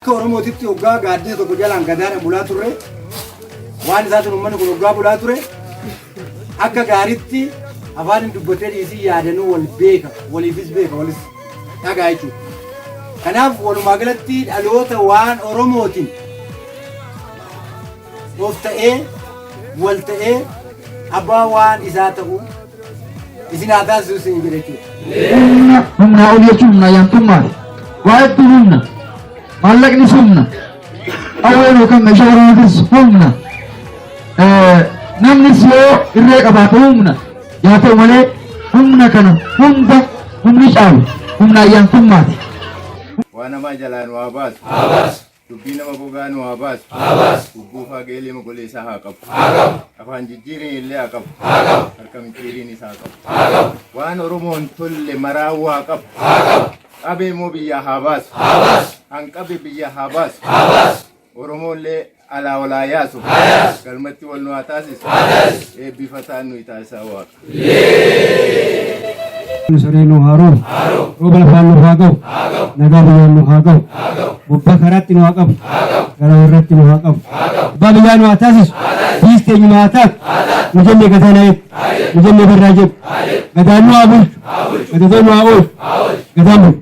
Akka Oromootitti hoggaa gaaddisa tokko jalaan gadaadhaan bulaa turre waan isaatiin uummanni kun hoggaa bulaa ture akka gaaritti afaan hin dubbatee dhiisii yaadanuu wal beeka waliifis beeka walis dhagaa jechuudha. Kanaaf walumaa galatti dhaloota waan Oromootiin of ta'ee wal ta'ee abbaa waan isaa ta'u isin haa taasisu isin jedhe jechuudha. humnaa ol jechuun humnaa yaantummaadha. Waa hedduu humna. Maallaqnis humna. Qawween yookaan meeshaa waraanatis humna. Eh, Namnis yoo irree qabaate humna. Yaa ta'u malee humna kana hunda humni caalu humnaa yaantummaati. Waa namaa jalaan waa baasu. Dubbii nama gogaa nu haa baasu. Haa baasu. Gubbuu faa geelee mogoleessaa haa qabu. Haa qabu. Afaan jijjiiriin illee haa qabu. Haa qabu. Harka micciiriin isaa qabu. Haa qabu. Waan Oromoon tolle maraa waa qabu. Haa qabu. Qabee moo biyyaa haa baasu. Haa baasu. Hanqabe biyya haa baasu. Haa baasu. Oromoollee alaa walaa yaasu. Haa yaasu. Galmatti wal nu haa taasisu. Haa taasisu. Eebbifataan nuyi taasisaa waaqa. saree nu haa roobu rooba lafaan nuuf haa ga'u nagaa biyyaan nuuf haa ga'u gubbaa karaatti nu haa qabu gara warratti nu haa qabu abbaa biyyaa nu haa taasisu biis teenyuma haa taatu nu jennee gadaa na eegu nu jennee barraa jedhu gadaan nu haa bulchu gadatoo nu haa oolchu gadaan bulchu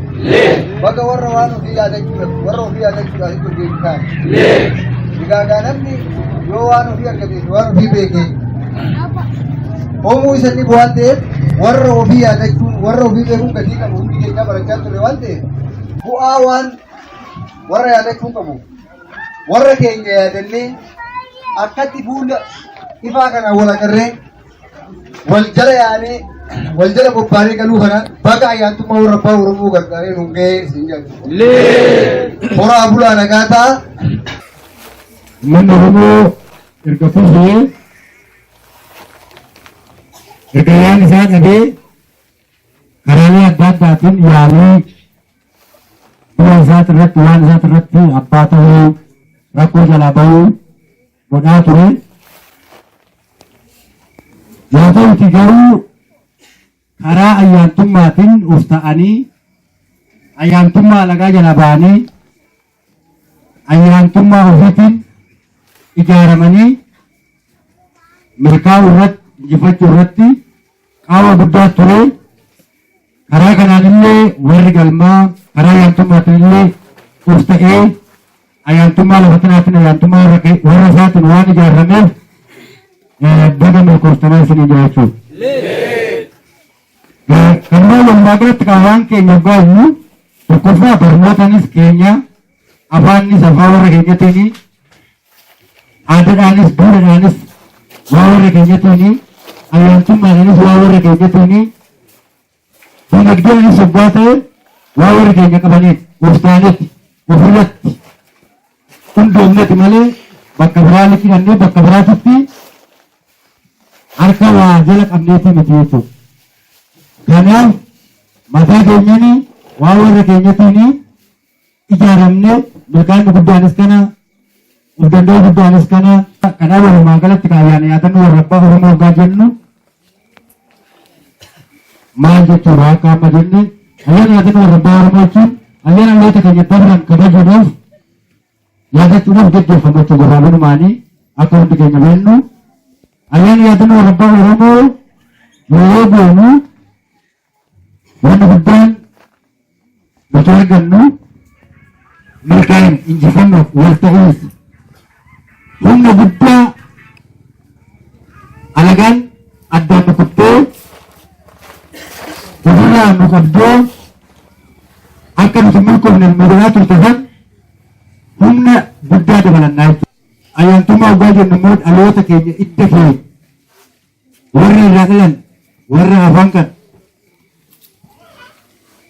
Baga warra waan ofii yaadachuu warra ofii yaadachuudhaan itti hojjetu taane. Egaa namni yoo waan ofii argateef waan ofii beekee hoomuu isanii waan ta'eef warra ofii yaadachuun warra ofii beekuun gatii qabu hundi keenyaa barachaa turre waan ta'eef bu'aa waan warra yaadachuu qabu warra keenya yaadannee akkatti fuula ifaa kanaan wal agarree wal jala yaanee wal jala bobbaanee galuu kana baga ayyaantummaa warra abbaa Oromoo gargaaree nuun gahee isin jedhu. Horaa bulaa nagaa ta'a. Uummanni Oromoo erga kuufee erga waan isaa dhabee karaalee adda addaatiin yaalii biyya isaati irratti waan isaati irratti abbaa ta'uu rakkoo jalaa ba'uu godhaa ture. Yaa ta'uti garuu karaa ayyaantummaatiin of ta'anii ayyaantummaa alagaa jala ba'anii ayyaantummaa ofiitiin ijaaramanii milkaa'uu irratti injifachuu irratti qaawwa guddaa ture. Karaa kanaan illee warri galmaa karaa yaantummaatiin illee of ta'ee ayaantummaa lafa kanaatiin ayaantummaa warra isaatiin waan ijaarameef baga milkooftanaa isinii jiraachuu. Kanuma walumaa galatti qaawwaan keenya hoggaa iyyuu tokkoffaa barnootaanis keenya afaannis afaan warra keenyatiin aadadhaanis duudhadhaanis waa warra keenyatiini ayyaantummaadhaanis waa warra keenyatiini dinagdeenis yogguu ta'e waa warra keenya qabaniif gooftaanitti ofirratti hundoofneti malee bakka biraa liqifannee bakka biraatitti harka waa jala qabneeti miti jechuudha. Kanaaf mataa keenyani waa warra keenyatiini ijaaramne magaalli guddaanis kana of danda'uu guddaanis kana kanaa walumaa galatti kaayyaan yaadannoo warra abbaa oromoo hoggaa jennu maal jechuudha akka amma jenne ayyaana yaadannoo warra abbaa oromoo jechuun ayyaana dhaloota keenya dabran kabajuudhaaf yaadachuudhaaf gaggeeffamu jechuudha gabaabanumaanii akka hundi keenya beennu ayyaana yaadannoo warra abbaa oromoo yoo goonu Wanni guddaan nuti argannu milkaan injifannoof wal ta'iinsi humna guddaa alagaan addaan nu kuttee ofirraa nu qabdee akka nuti milkoofne nu godhaa turte san humna guddaa dabalannaa jechuudha. Ayyaantummaa waggaa jennu immoo dhaloota keenya idda keenya Warra irraa dhalan warra hafan kana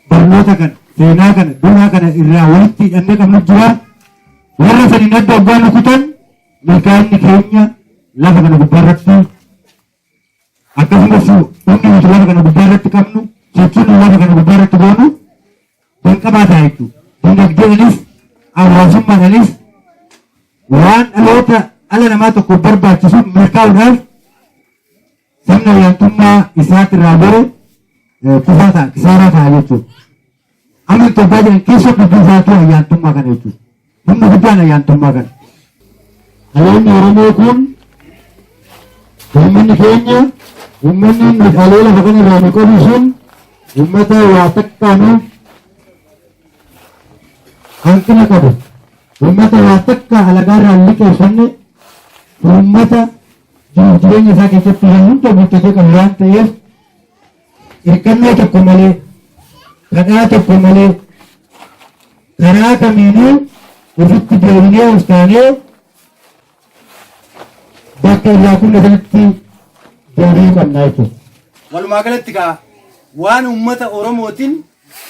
barnoota kana seenaa kana duudhaa kana irraa walitti hidhannee qabnu jira. Warra saniin adda oggaa nu kutan milkaa'inni keenya lafa kana gubbaa irratti akkasumas hundi nuti lafa kana gubbaa irratti qabnu sochii nu lafa kana gubbaa irratti goonu kan qabaataa jechuudha. Dinagdeedhanis hawaasummaadhanis waan dhaloota dhala namaa tokko barbaachisu milkaa'uudhaaf sirna olaantummaa isaatirraa bare kufaa ta'a, kisaaraa ta'a jechuudha. Amma Itoophiyaa jiran keessa dubbii isaatu ayyaantummaa kana jechuudha. Humni guddaan ayyaantummaa kana. Ayyaanni Oromoo kun uummanni keenya uummanni meeshaalee lafa kana irraa nu qabu sun uummata waa takkaanuuf hanqina qabu. Uummata waa takka alagaa irraa hin liqeeffanne uummata jireenya isaa keessatti waan hunda guuttatee qabu waan ta'eef hirkannoo tokko malee, kadhaa tokko malee, karaa kamiinuu ofitti deebinee of taanee bakka irraa kunne sanatti deebi'uu qabna jechuudha. Walumaa galatti kaa waan uummata Oromootiin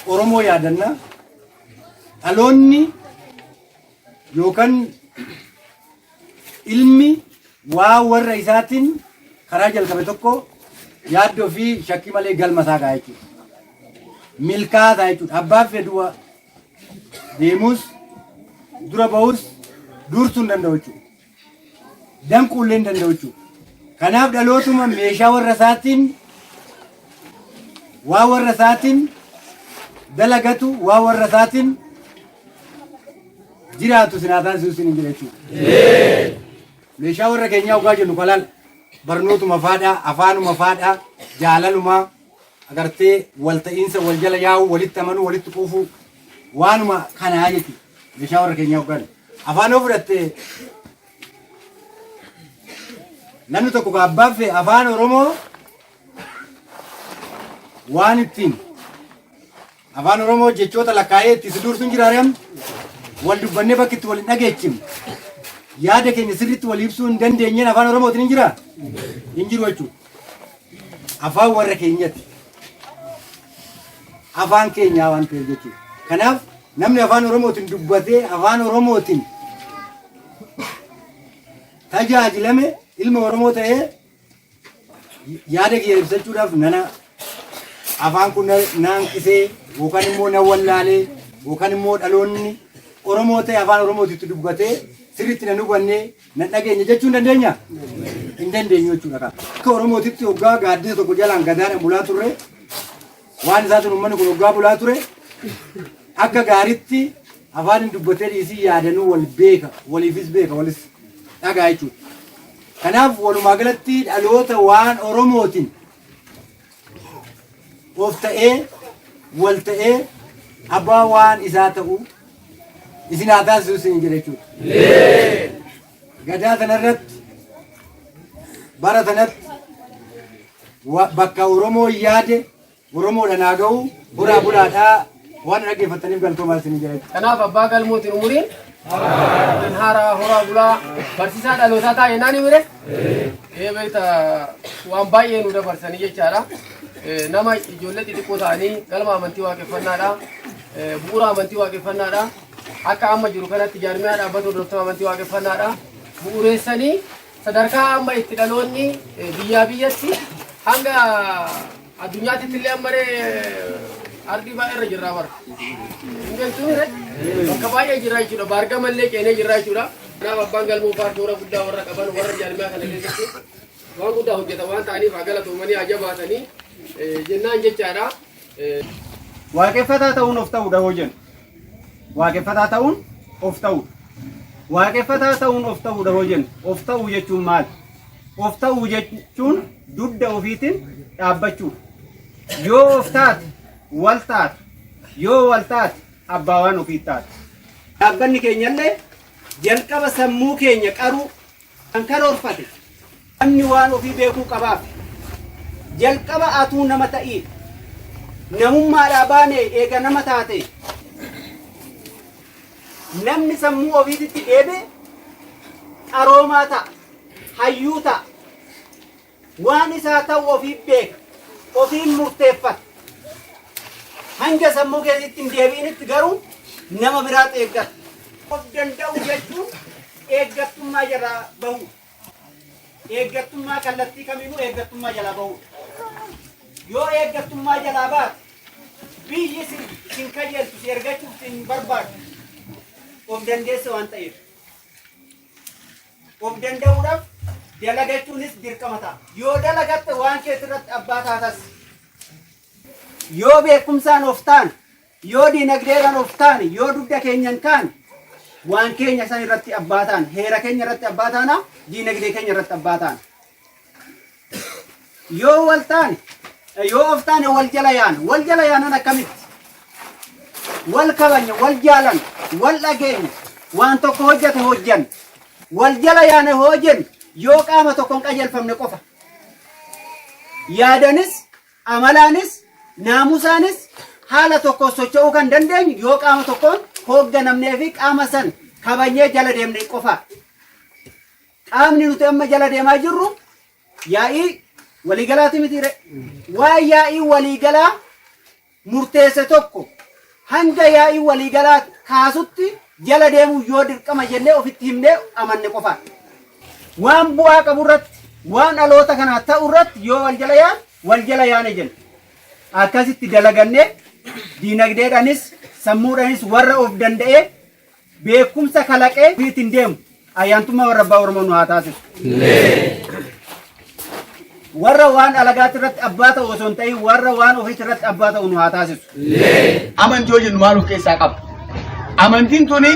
Oromoo yaadanna dhaloonni yookaan Ilmi waa warra isaatiin karaa jalqabe tokko yaaddoo fi shakkii malee galma isaa ga'a jechuudha. Milkaa'aa ta'a jechuudha. Abbaan fedhuwa deemus dura ba'us dursuu hin danda'u jechuudha. Danquu illee hin danda'u jechuudha. Kanaaf dhalootuma meeshaa warra isaatiin waa warra isaatiin dalagatu waa warra isaatiin jiraatu isin haa taasisu isiniin jedha jechuudha. Meeshaa warra keenyaa ogaa jennu kalaal barnootuma faadhaa, afaanuma faadhaa, jaalaluma agartee walta'iinsa wal jala yaa'uu, walitti amanuu, walitti quufuu waanuma kanaa jechuudha. Meeshaa warra keenyaa ogaa jennu. Afaan yoo fudhatte namni tokko kan abbaan fee afaan Oromoo waan ittiin Afaan Oromoo jechoota lakkaa'ee itti si duursuun jiraare amma wal dubbannee bakki itti wal hin dhageechifne yaada keenya sirriitti wal ibsuu hin dandeenyeen afaan Oromootiin hin jiraa? Hin jiru jechuudha. Afaan warra keenyati. Afaan keenyaa waan ta'eef jechuudha. Kanaaf namni afaan Oromootiin dubbatee afaan Oromootiin tajaajilame ilma Oromoo ta'ee yaada kiyya ibsachuudhaaf nana afaan kun na na hanqisee yookaan immoo na wallaalee yookaan immoo dhaloonni Oromoo ta'e afaan Oromootitti dubbatee sirriitti na hubannee na dhageenye jechuu hin dandeenya? Hin dandeenyu jechuudha. Akka Oromootitti hoggaa gaaddisa tokko jalaan gadaadhaan bulaa turre Waan isaatiin uummanni kun hoggaa bulaa ture akka gaaritti afaan hin dubbatee dhiisii yaadanuu wal beeka waliifis beeka walis dhagaa jechuudha. Kanaaf walumaa galatti dhaloota waan Oromootiin of ta'ee wal ta'ee abbaa waan isaa ta'u isin haa taasisu isin jedha jechuudha. Gadaa kanarratti bara kanatti wa- bakka Oromoo yaade Oromoodhaan haa ga'u horaa bulaadhaa waan dhaggeeffataniif galtoomaa isin jira. Kanaaf abbaa galmootiin umuriin kan haaraa horaa bulaa barsiisaa dhalootaa taa'e naan himire ee beekta waan baay'ee nu dabarsanii jechaadha. Eh, Nama ijoollee xixiqqoo ta'anii galma amantii waaqeffannaadha. Eh, Bu'uura amantii waaqeffannaadha. Akka amma jiru kanatti jaarmiyaa dhaabbata hordoftoota amantii waaqeffannaadha. Bu'ureessanii sadarkaa amma itti dhaloonni eh, biyyaa biyyatti hanga addunyaatti illee ammaree ardii baay'ee irra jirraa bara. Hingaltuure bakka baay'ee jirraa jechuudha. Baargama illee ceenee jirraa jechuudha. Kanaaf abbaan galmoo paartii warra guddaa warra qaban warra jaarmiyaa kana keessatti waan guddaa hojjetan waan ta'aniif haa galatoomanii haa jabaatanii eh, jennaan jechaadha. Waaqeffataa ta'uun of ta'uudha hoo jennu. Waaqeffataa ta'uun of ta'uudha. Waaqeffataa ta'uun of ta'uudha hoo jennu. Of ta'uu jechuun maali? Of ta'uu jechuun dugda ofiitiin dhaabbachuudha. Yoo of taate wal taate. Yoo wal taate abbaa waan ofii taate. Dhaabbanni keenyallee jalqaba sammuu keenya qaruu Kan karoorfate namni waan ofii beekuu qabaaf jalqaba atuu nama ta'iif namummaadhaa baane eega nama taate namni sammuu ofiititti deebe qaroomaa ta'a hayyuu ta'a Waan isaa ta'u ofiif beeka. Ofiin murteeffata. Hanga sammuu keessatti hin deebi'initti garuu nama biraatti eeggata. Of danda'u jechuun eeggattummaa jalaa bahu. Eeggattummaa kallattii kamiinuu eeggattummaa jalaa bahu. Yoo eeggattummaa jalaa baate biyyi sin sin kajeeltu si ergachuuf sin barbaadu of dandeessa waan ta'eef. Of danda'uudhaaf dalagachuunis dirqama ta'a. Yoo dalagatte waan keetirratti abbaa taatas. Yoo beekumsaan of taane, yoo diinagdeedhaan of taane, yoo dugda keenyan kaane, waan keenya san irratti abbaa taana. Heera keenya irratti abbaa taana, diinagdee keenya irratti abbaa taana. Yoo wal taane yoo of taane wal jala yaana. Wal jala yaanan akkamitti? Wal kabanya, wal jaalan, wal dhageenya, waan tokko hojjete hojjan. Wal jala yaane hojjen yoo qaama tokkoon qajeelfamne qofa. Yaadanis, amalaanis, naamusaanis haala tokkoon socho'uu kan dandeenyu yoo qaama tokkoon hoogganamnee fi qaama san kabanyee jala deemne qofa. Qaamni nuti amma jala deemaa jirru yaa'ii waliigalaati mitiire. Waa yaa'ii waliigalaa murteesse tokko hanga yaa'ii waliigalaa kaasutti jala deemuu yoo dirqama jennee ofitti himnee amanne qofaa. Waan bu'aa qabu irratti waan dhaloota kanaa ta'u irratti yoo wal jala yaan wal jala yaane jenna. Akkasitti dalagannee diinagdeedhanis sammuudhanis warra of danda'ee beekumsa kalaqee ofii ittiin deemu ayyaantummaa warra abbaa Oromoo nu haa taasisu. Warra waan alagaatti irratti abbaa ta'u osoo hin ta'in warra waan ofiitti irratti abbaa ta'u nu haa taasisu. amantii jennu maal of keessaa qaba? Amantiin tuni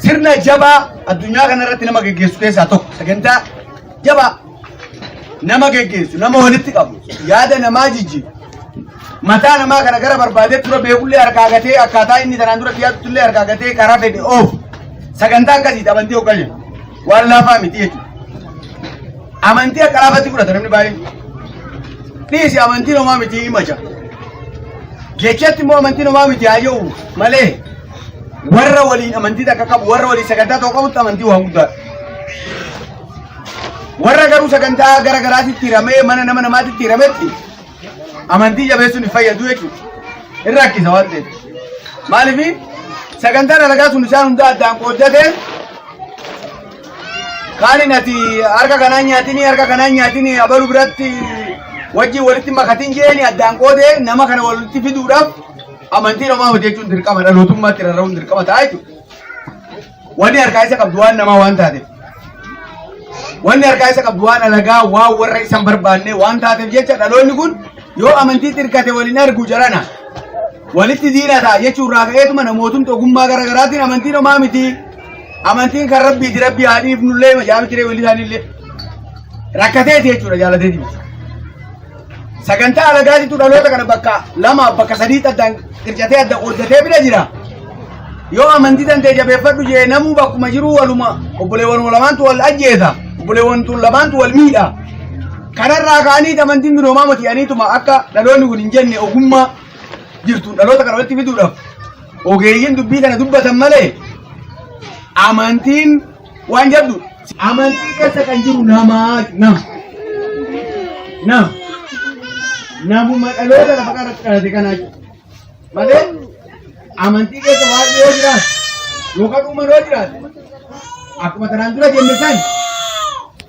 sirna jabaa addunyaa kanarratti nama geggeessu keessaa tokko sagantaa jabaa nama geggeessu nama walitti qabu yaada namaa jijjiiru mataa namaa kana gara barbaadee tura beekullee harkaa gatee akkaataa inni tanaan dura dhiyaatutullee harkaa gatee karaa fedhe oofu sagantaa akkasii amantii hoggaa jedhu waan laafaa miti jechuudha. Amantii akka laafatti fudhata namni baay'een. Dhiisi amantiin homaa miti himacha. Jechatti immoo amantiin homaa miti haa jedhu malee warra waliin amantii takka qabu warra waliin sagantaa tokko qabutti amantii waan guddaadha. Warra garuu sagantaa gara garaatitti hiramee mana nama namaatitti hirametti amantii jabeessuun hin fayyadu jechuudha. Hin rakkisa waan ta'eef. Maaliif sagantaan alagaa sun isaan hundaa addaan qooddatee kaaniin ati harka kanaan nyaatini harka kanaan nyaatini abalu biratti wajjin walitti makatiin jeeni addaan qoodee nama kana walitti fiduudhaaf amantii namaa hojjechuun dirqama dhalootummaatti rarra'uun dirqama ta'a jechuudha. Wanni harkaa isa qabdu waan namaa waan taateef. Wanni harkaa isa qabdu waan alagaa waan warra isan barbaanne waan taateef jecha dhaloonni kun yoo amantii xirkate waliin argu jarana. Walitti diina ta'a jechuun irraa ka'eetuma namootni ogummaa gara garaatiin amantiin homaa miti. Amantiin kan rabbiiti rabbii haa dhiifnullee majaa'amti ree walii isaaniillee. Rakkateeti jechuudha jaalateeti. Sagantaa alagaatitu dhaloota kana bakka lamaaf bakka sadii addaan qircatee adda qooddatee bira jira. Yoo amantii tantee jabeeffadhu jee namuu bakkuma jiruu waluma obboleewwan lamaantu wal ajjeesa. Obboleewwan tun lamaantu wal miidha. Kanarraa ka'anii amantiin binoomaa mati aniituma akka dhaloonni kun hin jenne ogummaa jirtu dhaloota kana walitti fiduudhaaf ogeeyyiin dubbii kana dubbatan malee amantiin waan jabdu amantii keessa kan jiru namaa nam nam namuma dhaloota lafa kanatti dhalate kanaa jiru malee amantii keessa waan yoo jiraatu yookaan uuman yoo jiraatu akkuma kanaan dura jenne san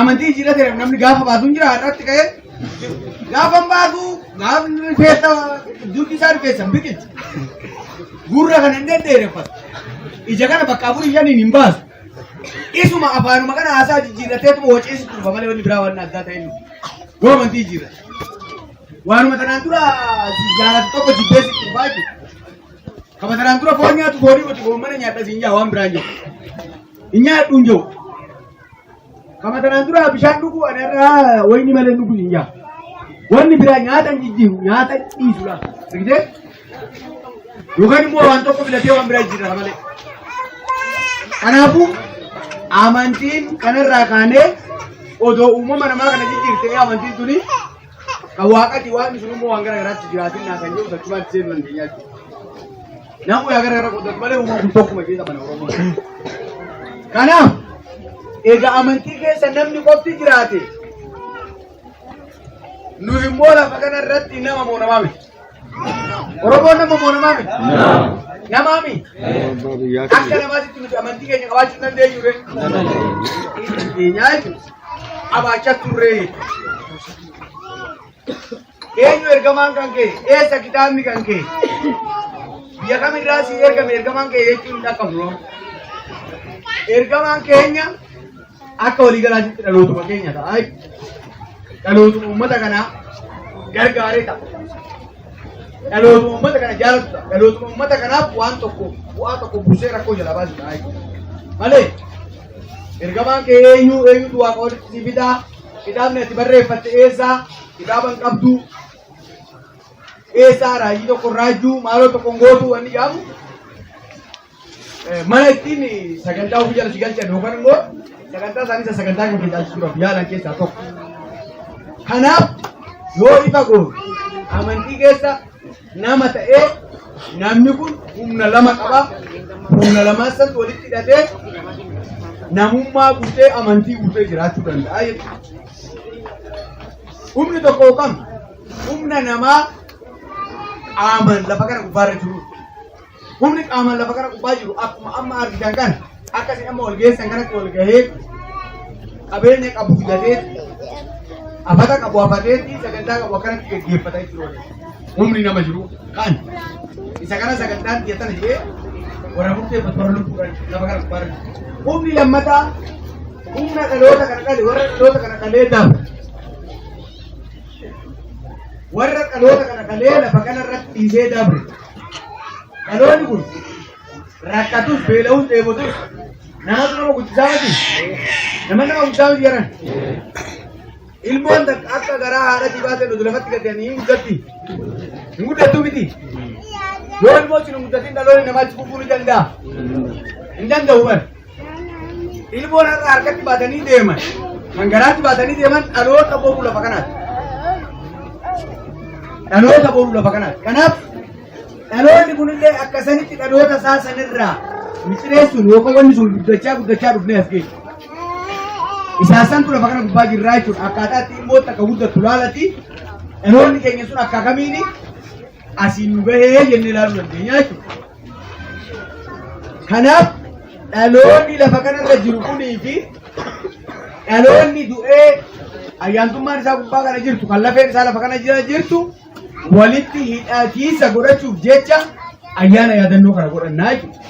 Amantii jijjiirraa ta'eef namni gaafa baasuu hin jira har'aatti ka'ee gaafa hin baasuu gaafni rifeensa dugdi isaa rifeensa hin biqilchu. Gurra kana hin deddeereffatu. Ija kana bakka afurii shaniin hin baasu. Isuma afaanuma kana haasaa jijjiirrateetuma waceessi turba malee wanni biraa waan addaa ta'e miti. Yoo amantii jijjiirra. Waanuma tanaan dura jaalatu tokko jibbeessi turbaa jechuudha. Kama tanaan dura foon nyaatu foonii nuti foon mana nyaadha siin jaa waan biraan jiru. Hin nyaadhu hin jiru. Kama kanaan dura bishaan dhuguu ani irraa wayni malee dhuguu hin jaa. Wanni biraa nyaata hin jijjiiru nyaata dhiisu laata. Argitee? Yookaan immoo waan tokko filatee waan biraa jijjiirra malee. Kanaafuu amantiin kanarraa kaanee odoo uumama namaa kana jijjiirtee amantiin tuni Kan waaqati waan sun immoo waan gara garaatti jiraatin naa kan jedhu tachumaan itti seenuu dandeenya jechuudha. Namuu yaa gara gara qoodatu malee uumaan kun tokkuma keessa mana Oromoo. Kanaaf egaa amantii keessa namni qofti jiraate nu immoo lafa kana irratti nama moonamaa miti. Oromoon nama moo namaa miti? Namaa miti? Abbaa biyyaa Akka keenya. namaatitti nuti amantii keenya qabaachuu hin dandeenyu ree. Keenyaa jechuudha. Qabaachaa turree jechuudha. Eenyu ergamaan kan ka'e? Eessa kitaabni kan ka'e? Biyya kamirraa si ergame ergamaan ka'e jechuun hin dhaqqabu. Ergamaan keenya Akka waliigalaatti dhalootuma keenya ta'a. Dhalootuma uummata kanaa gargaaree ta'a. Dhalootuma uummata kana jaalatu ta'a. Dhalootuma uummata kanaaf waan tokko bu'aa tokko buusee rakkoo jala baasu ta'a. Malee ergamaan kee eenyu eenyutu waaqa walitti si fidaa kitaabni ati barreeffatte eessaa kitaaba hin qabdu eessaa raajii tokko raajuu maaloo tokko hin gootu wanni jaamu mana ittiin sagantaa ofii jalatti galchan yookaan immoo sagantaa isaanii isa sagantaa kan tajaajisuudhaaf yaalan keessaa tokko. Kanaaf yoo ifa goone amantii keessa nama ta'ee namni kun humna lama qaba. Humna lamaan san walitti hidhatee namummaa guutee amantii guutee jiraachuu danda'a jechuudha. Humni tokko yookaan humna namaa qaamaan lafa kana gubbaarra jiru. Humni qaamaan lafa kana gubbaa jiru akkuma amma argitan kana akkasiin amma wal geessan kanatti wal gahee qabeenya qabu filatee afata qabu afateetti sagantaa qabu akkanatti gaggeeffata jechuudha. Humni nama jiru kan isa kana sagantaan dhiyeessan jedhee warra murteeffatu warra lubbuudhaan lafa kana gubbaa jiru. Humni lammataa humna dhaloota kana dhale warra dhaloota kana dhalee daafa. Warra dhaloota kana dhalee lafa kana irratti dhiisee dabre. Dhaloonni kun rakkatus beela'us dheebotus namatu nama guddisaa miti. Nama nama guddaa miti jedhan. Ilmoon takka akka garaa haadhatii baatee nuti lafatti gadanii hin guddatti. Hin guddattuu miti. Yoo ilmoo isin hin guddatin dhaloonni namaa itti fufuu ni danda'a. Hin danda'u bar. Ilmoon har'a harkatti baatanii deeman kan garaatti baatanii deeman dhaloota boruu lafa kanaati. Dhaloota boruu lafa kanaati. Kanaaf dhaloonni kunillee akka sanitti dhaloota isaa sanirraa micireessuun yookaan wanni sun guddachaa guddachaa dhufnee as geessu. Isaasantu lafa kana gubbaa jirraa jechuudha. Akkaataa itti immoo takka guddattu laalati dhaloonni keenya sun akka kamiini asiin nu gahee jennee ilaaluu dandeenya jechuudha. Kanaaf dhaloonni lafa kanarra jiru kunii fi dhaloonni du'ee ayyaantummaan isaa gubbaa kana jirtu kan lafeen isaa lafa kana jira jirtu walitti hidhatiisa godhachuuf jecha ayyaana yaadannoo kana godhannaa jechuudha.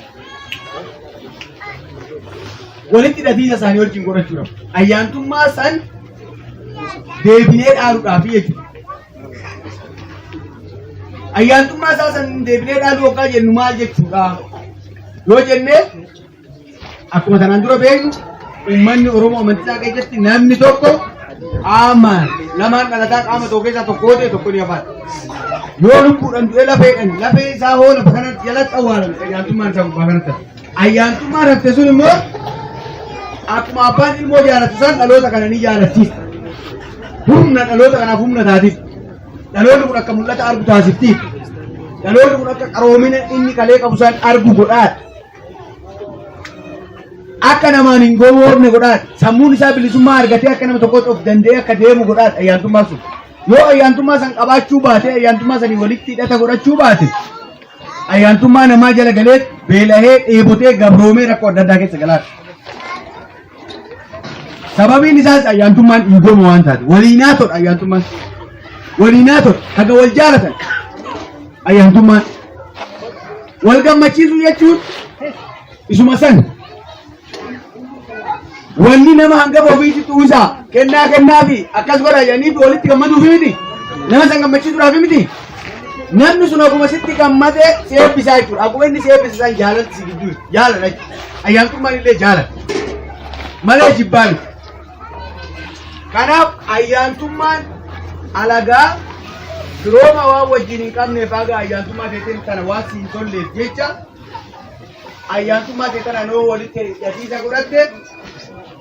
Walitti hidhatiisa isaanii wajjin godhachuudhaaf ayyaantummaa san deebinee dhaaluudhaaf jechuudha. Ayyaantummaa isaa san deebinee dhaaluu hoggaa jennu maal jechuudha? Yoo jenne akkuma tanaan dura beeknu uummanni Oromoo amantisaa keessatti namni tokko qaama lamaan dhalataa qaama tokko keessaa tokko yoo ta'e tokko ni hafaata. Yoo lubbuudhaan du'e lafeedhaan lafee isaa hoo lafa kanatti jalatti awwaalame ayyaantummaan isaa gubbaa kanatti hafa. Ayyaantummaan hafte sun immoo akkuma abbaan ilmoo jaalatu san dhaloota kana ni jaalachiisa. Humna dhaloota kanaaf humna taatiif. Dhaloonni kun akka mul'ata argu taasiftiif. Dhaloonni kun akka qaroomina inni kalee qabu san argu godhaadha. Akka namaan hin gowwoomne godhaadha. Sammuun isaa bilisummaa argatee akka nama tokkotti of danda'ee akka deemu godhaadha ayyaantummaa sun. Yoo ayyaantummaa san qabaachuu baate ayyaantummaa sanii walitti hidhata godhachuu baate ayyaantummaa namaa jala galee beelahee dheebotee gabroomee rakkoo adda addaa keessa galaati. Sababiin isaas ayyaantummaan dhiigooma waan taate waliinaa todha ayyaantummaan waliinaa todha haga wal jaalatan ayyaantummaan wal gammachiisuu jechuun isuma san Wanni nama hangafa ofiitti tuusa kennaa kennaa fi akkas godha jedhanii fi walitti gammaduu fi miti. Nama san gammachiisuudhaa fi miti. Namni sun akkuma sitti gammade si eebbisaa jechuudha. Akkuma inni si eebbise san jaalalti si gidduu jaalala jechuudha. Ayyaantummaan illee jaalala. Malee jibbaa miti. Kanaaf ayyaantummaan alagaa firooma waan wajjin hin qabneef haga ayyaantummaa teeteen tana waan si hin tolleef jecha ayyaantummaa kee tanaan yoo walitti hidhatiisa godhatte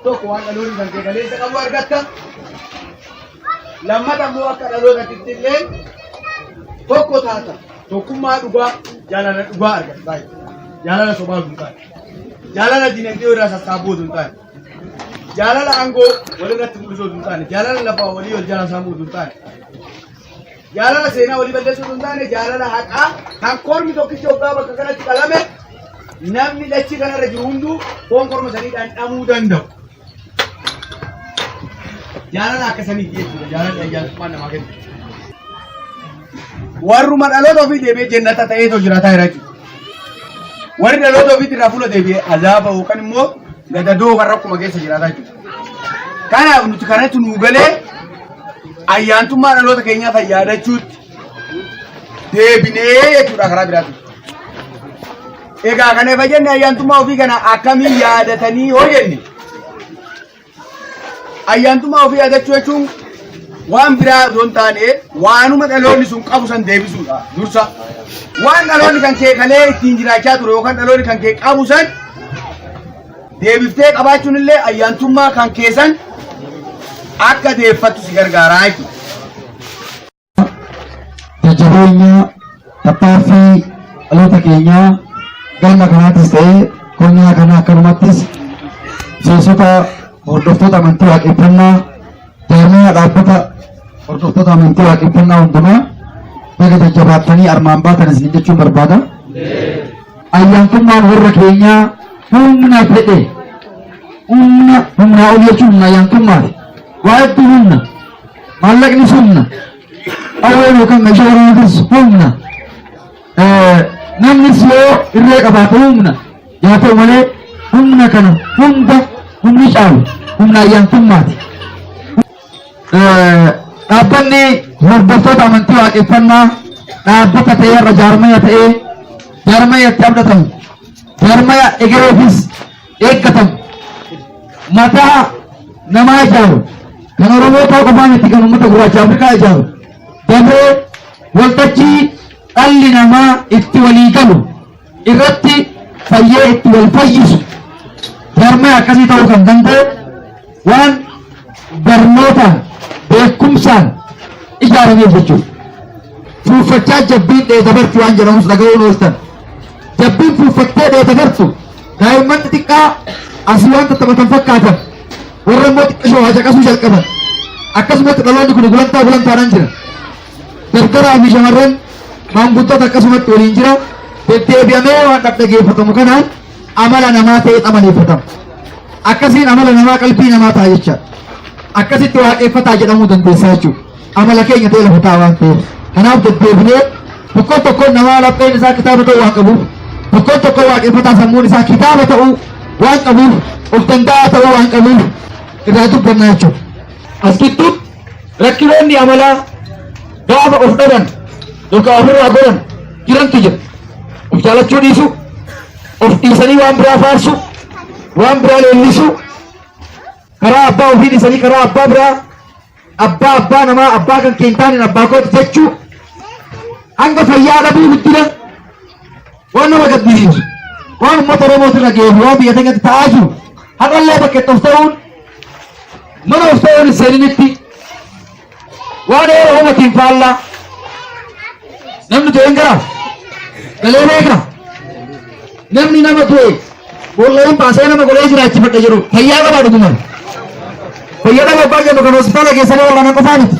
tokko waan dhaloonni kan kee kaleessa qabu argatta. Lammata immoo akka dhalootatti illee tokko taata tokkummaa dhugaa jaalala dhugaa argatta baay'ee jaalala sobaa hin taane jaalala dinagdee irraa sassaabuu hin taane jaalala aangoo walirratti mul'isuu hin taane jaalala lafaa walii wal jaalaa saamuu hin taane Jaalala seenaa walii balleessuu osoo hin taane jaalala haqaa kan kormi tokkichi hoggaa bakka kanatti qalame namni dachii kanarra jiru hunduu foon korma sanii dhandhamuu danda'u. Jaalala akka saniiti jechuudha. Jaalalli ayyaantummaa namaa kenna. Warruma dhaloota ofii deebi'ee jennata ta'eetoo jiraataa jira jechuudha. Warri dhaloota ofiitti irraa fuula deebi'ee azaaba yookaan immoo gadadoo kan rakkuma keessa jiraataa jechuudha. Kanaaf nuti kanatti nuu galee ayyaantummaa dhaloota keenyaa fayyadachuutti deebinee jechuudha karaa biraatti. Egaa kana efa jenne ayyaantummaa ofii kana akkamiin yaadatanii hoo jenne? Ayyaantummaa ofii yaadachuu jechuun waan biraa osoo hin taane waanuma dhaloonni sun qabu san deebisuudha dursa. Waan dhaloonni kan kee kalee ittiin jiraachaa ture yookaan dhaloonni kan kee qabu san deebiftee qabaachuun illee ayyaantummaa kan keessan akka deeffattu si gargaaraa jechuudha. Jajjabeenya tattaaffii dhaloota keenyaa galma kanaattis ta'ee qonnaa kana akkanumattis miseensota hordoftoota amantii waaqeffannaa jaarmaya dhaabbata hordoftoota amantii waaqeffannaa hundumaa baga jajjabaattanii armaan baatan isin jechuun barbaada. Ayyaantummaan warra keenyaa humna fedhe humna humnaa ol jechuun humna ayyaantummaati. Waa hedduu humna. Maallaqnis humna. Qawween yookaan meeshaa waraanatis humna. Eh, Namnis yoo irree qabaate humna. Yaa ta'u malee humna kana hunda humni caalu humna ayyaantummaati. Dhaabbanni hordoftoota amantii waaqeffannaa dhaabbata ta'ee irra jaarmaya ta'ee jaarmaya itti abdatamu jaarmaya egereefis eeggatamu mataa namaa ijaaru kan Oromoo ta'uu qofaa miti kan uummata gurraacha Afrikaa ijaaru dafee waltajjii dhalli namaa itti walii galu irratti fayyee itti wal fayyisu jaarmaya akkasii ta'uu kan danda'e waan barnootaan beekumsaan ijaarameef jechuudha. Fuuffachaa jabbiin dheedabartu waan jedhamus dhaga'uun ooltan. Jabbiin fuuffattee dheedabartu daa'imman xixiqqaa asii waan taphatan fakkaatan warra immoo xiqqishoo hacaqasuu jalqaban. Akkasumatti dhaloonni kun gulantaa gulantaadhaan jira. dardaraa fi shamarran maanguddota akkasumatti waliin jira deddeebi'amee waan dhaggeeffatamu kanaan amala namaa ta'ee amaleeffatama. Akkasiin amala namaa qalbii namaa ta'a jecha akkasitti waaqeffataa jedhamuu dandeessaa jechuudha. Amala keenya ta'e lafa ta'a waan ta'eef. Kanaaf deddeebinee tokkoon tokkoon namaa lapheen isaa kitaaba ta'uu waan qabuuf tokkoon tokkoon waaqeffataa sammuun isaa kitaaba ta'uu waan qabuuf of danda'aa ta'uu waan qabuuf irraa dubbannaa jechuudha. As gidduutti Rakkinoonni amalaa gaafa of dhaban yookaan ofirraa goran jirantu jira. Of jaalachuu dhiisu, of dhiisanii waan biraa faarsu, waan biraa leellisu, karaa abbaa ofii dhiisanii karaa abbaa biraa, abbaa abbaa namaa abbaa kan keentaan hin abbaa kooti jechuu, hanga fayyaa dhabuu guddina Waan nama gaddisiisu. Waan uummata Oromootu irra ga'ee fi waan biyya keenyatti ta'aa jiru. Har'allee bakka itti of ta'uun mana of ta'uun hin seeninitti waan eera uumatiin faallaa namni du'e hin garaa galee beeka namni nama du'e bool'een baasee nama golee jiraachifadha jedhu fayyaa qabaa dhugumaan fayyaa dhabaa baay'ee kan hospitaala keessanii wal'aana qofaa miti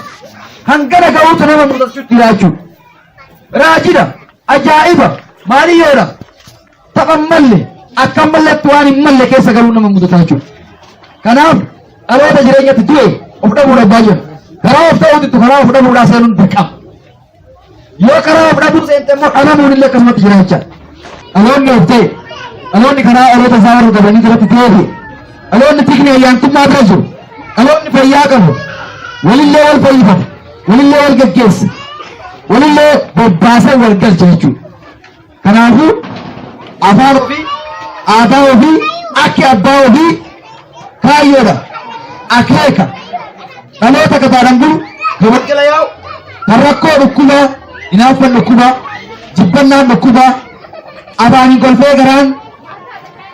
hangana ga'uutu nama mudachuu jiraachuu Raajidha, ajaa'iba, maaliyyoodha, tapha hin malle, akka hin malletti waan hin malle keessa galuu nama mudata jechuudha. Kanaaf dhaloota jireenyatti du'e of dhabuudha baay'ee. Karaa of ta'uutti karaa of dhabuudhaa seenuun dirqama. Yoo karaa of dhabuu seente immoo dhalamuun illee akkasumatti jira jecha. Dhaloonni of ta'e, dhaloonni karaa dhaloota isaa warra qabanii jiratti ta'eefi, dhaloonni tikni ayyaantummaa bira jiru, dhaloonni fayyaa qabu, walillee wal fayyifata. walillee wal gaggeessa walillee bobbaasee wal galcha jechuudha. Kanaafuu afaan ofii aadaa ofii akki abbaa ofii kaayyoodha akeeka dhaloota gabaadhaan bulu kan wal jala yaa'u kan rakkoo dhukkubaa hinaaffan dhukkubaa jibbannaan dhukkubaa afaaniin kolfee garaan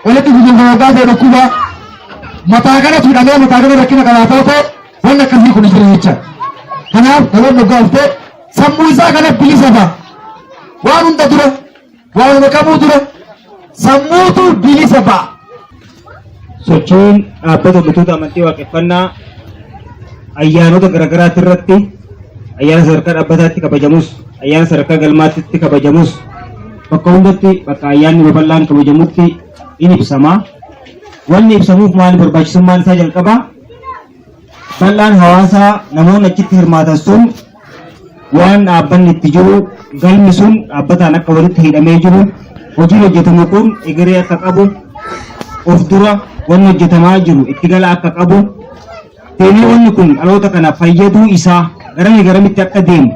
walitti guguunfaa dhukkubaa mataa kanatu hidhamee mataa kana rakkina qabaatoo ta'e Waan akkasii kun jira jecha. Kanaaf dhaloonni dhugaa dhuftee sammuu isaa kana bilisa ba'a. Waan hunda dura, waan hunda qabuu dura sammuutu bilisa ba'a. sochiin dhaabbata hojjettoota amantii waaqeffannaa ayyaanota garaagaraati irratti ayyaana sadarkaa dhaabbataatti kabajamus ayyaana sadarkaa galmaatti kabajamus bakka hundatti bakka ayyaanni babal'aan kabajamutti in ibsama. Wanni ibsamuuf maali barbaachisummaan isaa jalqabaa Bal'aan hawaasaa namoonni achitti hirmaatan sun waan dhaabbanni itti jiru galmi sun dhaabbataan akka walitti hidhamee jiru hojiin hojjetamu kun egeree akka qabu of dura wanni hojjetamaa jiru itti gala akka qabu deemee wanni kun dhaloota kana fayyaduu isaa garamii garamitti akka deemu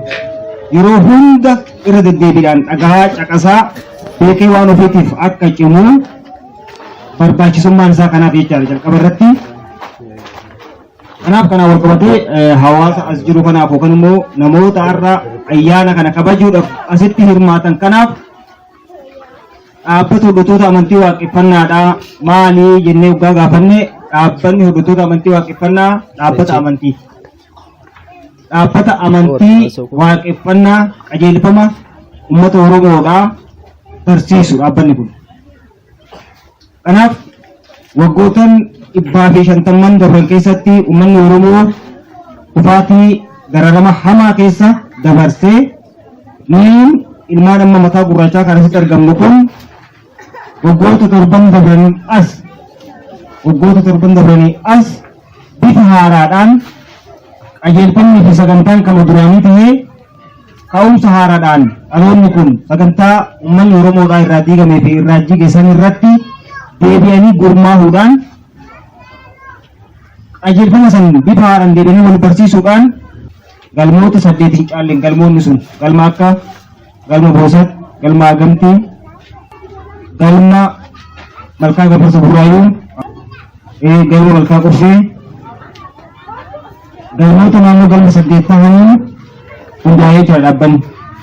yeroo hunda irra deddeebiidhaan dhagahaa caqasaa beekee waan ofiitiif akka cimu barbaachisummaan isaa kanaaf jechaadha jalqaba irratti. Kanaaf kanaan wal qabatee eh, hawaasa as jiru kanaaf yookaan immoo namoota har'a ayyaana kana kabajuudhaaf asitti hirmaatan kanaaf dhaabbata hordoftoota amantii waaqeffannaadha maali jennee waggaa gaafanne dhaabbanni hordoftoota amantii waaqeffannaa dhaabbata amantii dhaabbata amantii waaqeffannaa qajeelfama uummata oromoodha barsiisu dhaabbanni kun Kanaaf waggootan dhibbaa fi shantamman darban keessatti uummanni Oromoo kufaatii dararama hamaa keessa dabarsee nuyiin ilmaan amma mataa gurraachaa kan asitti argamnu kun waggoota torban dabranii as waggoota torban dabranii as bifa haaraadhaan qajeelfamni fi sagantaan kan duraanii ta'ee Ka'umsa haaraadhaan dhaloonni kun sagantaa ummanni Oromoodhaa irraa diigamee fi irraa jige san irratti deebi'anii gurmaahuudhaan qajeelfama san bifa haaraan deebi'anii wal barsiisuudhaan galmoota saddeet hin caalleen galmoonni sun galma akka galma boosat galma agamtii galma malkaa gafarsa burraayuu galma malkaa qursee Barnoota naannoo galma saddeet tahaniin hundaa'ee jira dhaabbanni.